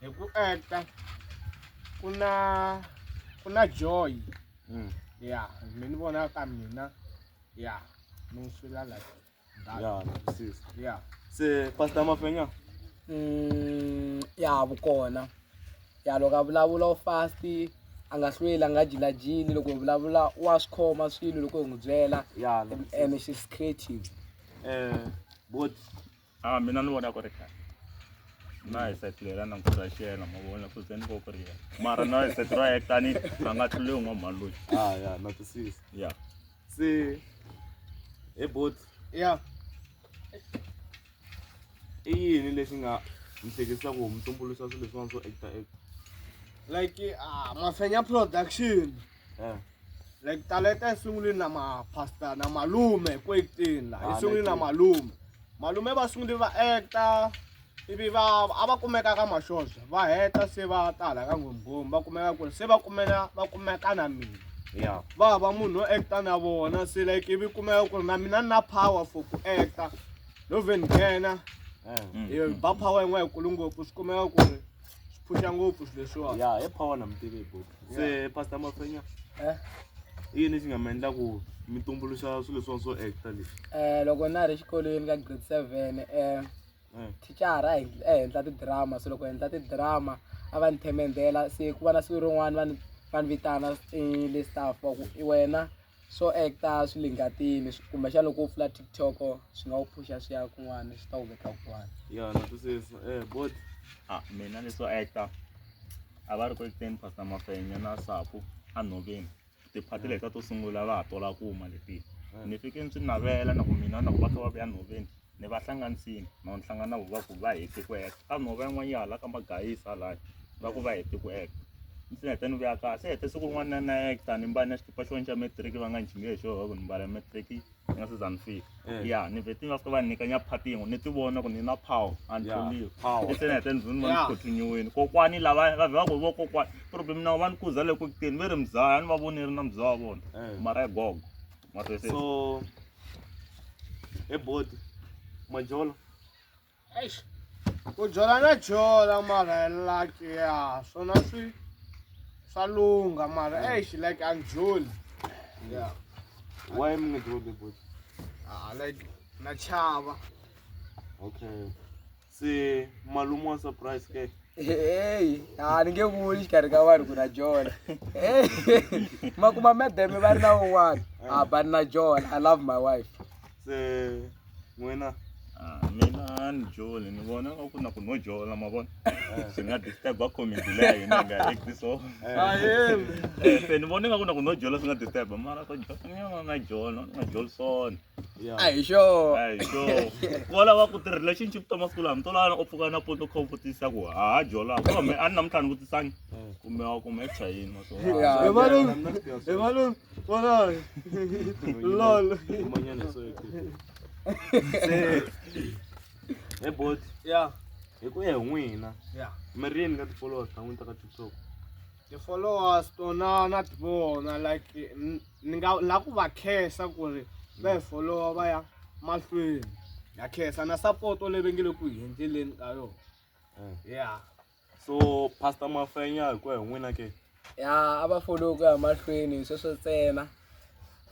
hi ku enta ku na ku na joy mm. ya mi ni vona ka mina ya mi n'wi swila like ya nakusisa ya se pastor mafenya mm, ya vukona ya loko a vulavula u fast a nga hlweli a nga jilajili loko hi vulavula wa swi khoma swilo loko hi n'wi byela and she's creative um eh, bot Ah, mina ni vona ku ri kahle. Na hi set leri a ni ku ra xena ma vona ku ze ni ko ku ri yena. Mara na hi set ra yena tani a nga tluli un'wa mhani loyi. Ah ya na twisisa. Yeah. Se he bot ya i yini lexi nga mi hleketisa ku mi tumbuluxa swilo leswiwani swo actor actor. Like ah, Mafenya production. Eh. Like taleta yi sungule na ma pastor na malume ku acting la. Yi Ah, sungule na like- malume. Malume va sungule va actor ivi va a va kumeka ka mashoxa va heta se va tala ka ngomgomi va kumeka ku ri se va kumela va kumeka na mina Yeah. va va munhu wo actor na vona se like ivi kumeka ku ri na mina ni na power for ku actor no ve ni nghena Eh. Mm. Eh, ba power yin'we yikulu ngopfu swi kumeka ku ri swi phusha ngopfu swilo leswiwani Yeah, hi power na mutivi hi book. se pastor mafenya Eh? i yini lexi nga mi endla ku mi tumbuluxa swilo leswiwani swo acta leswi Eh, loko na ha ri xikolweni ka grade seven eh, Eh, thicara a hi- a endla tidrama so loko hi endla tidrama a va ni themendela se ku va na siku rin'wana va ni va ni vitana eh, le staff va ku i wena swo act-a swi le ngatini kumbexana loko wo pfula TikTok swi nga wu phusha swi ya kun'wana swi ta wu veka kun'wana ya na twisisa eh bot a mina leswo act-a a va ri ku act-eni Pastor Mafenya na Sapu a Nhoveni tiphati leta to sungula va ha tola kuma leti ni fike ni swi navela na ku mina na ku va kha va vuya Nhoveni ni va hlanganisile no ni hlangana na vona va ku va hete ku heta kambe nhova yin'wana ya hala ka magayisi halaya va ku va hete ku heta ndzi heta ni vuya kahle se hete siku rin'wana na hekta ni mbale na xikipa xin'wana xa matric va nga ni xinge hi xona ku ni mbala matric ni nga se za ni fika Eh. ya ni vhete ni va fika va ni nyika nyaphati yin'we ni ti vona ku ni na power a ni Ya, tlholiwi power. se ni heta ni ni va ni Ya. khothinyiwini kokwani lava va vhe va ku vo kokwani problem na va ni kuza le ku kuteni ve ri muzaya a ni va voni ri na muzaya wa vona Eh. mara ya gogo mara se so He boti. Majolo. Eish. Ku jola na jola mara like ya swona swi swa lungha mara eish like a ni joli. Yeah. Why mi nga joli boti? Ah like na chava. Okay. Se malume wa surprise ke. Hey, ah ni nge vuli xikarhi ka vanhu ku na John. Hey. Ma kuma madam va ri na un'wana. Ah, ba ni na John. I love my wife. Se n'wina Ah, mina ni joli ni vona nga ku na ku no jola ma vona swi nga disturb a community leya hina nga act so se ni vona nga ku na ku no jola swi nga disturb mara ku jola ni yona na jola na jolson a hi xona a hi xona wa lava ku ti relationship ta masiku lama to lava u pfuka na poto kha u vutisa ku ha ha jola ko me a ni namuntlha ni vutisangi kumbe wa kumbe hi chayini ma swona Yeah. Hey, Malum. Hey, Malum. What on? Lol. Hey bot, Yeah. hi ku ya hi n'wina. Yeah. Mi ri yini ka tipolota n'wini ta ka TikTok? Ti-followers tona na ti vona like ni nga la ku va khensa ku ri va hi followa va ya mahlweni ya khensa na sapoto leyi vengele ku hi endleleni ka yona eh. ya so pastor mafenya hi ku ya hi n'wina ke ya a va follow ku ya mahlweni sweswo ntsena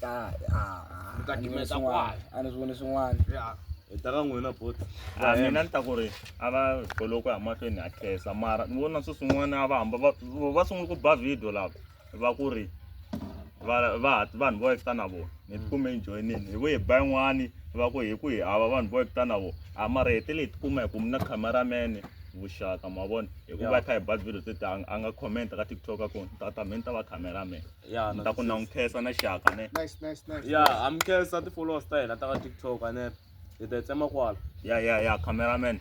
ta ah, ah, Mi ta a ni voni gimeta swin'wana. kwala. a ni swi voni swin'wana ya hi ta ka n'wina bot Ah, mina ni ta ku ri a va goloki a mahlweni a khensa mara ni vona swi swin'wana a va hamba va va sungula ku ba video lava va ku ri va va vanhu vo ekita na vona ni tikume hi joyinini hi vuye hi ba yin'wani va ku hi ku hi hava vanhu vo ekita na vona a mara hetele hi tikuma hi ku mina cameraman vuxaka ma vona hikuva hi kha hi ba video tete a nga- a nga comment ka tiktok a ku tata mina ta va cameraman ya ni ta ku na n'wi khensa na xaka ne Nice, nice, nice. ya ha mi khensa ti-followers ta hina ta ka tiktok a ne hi ta yi tsema kwala ya ya ya cameraman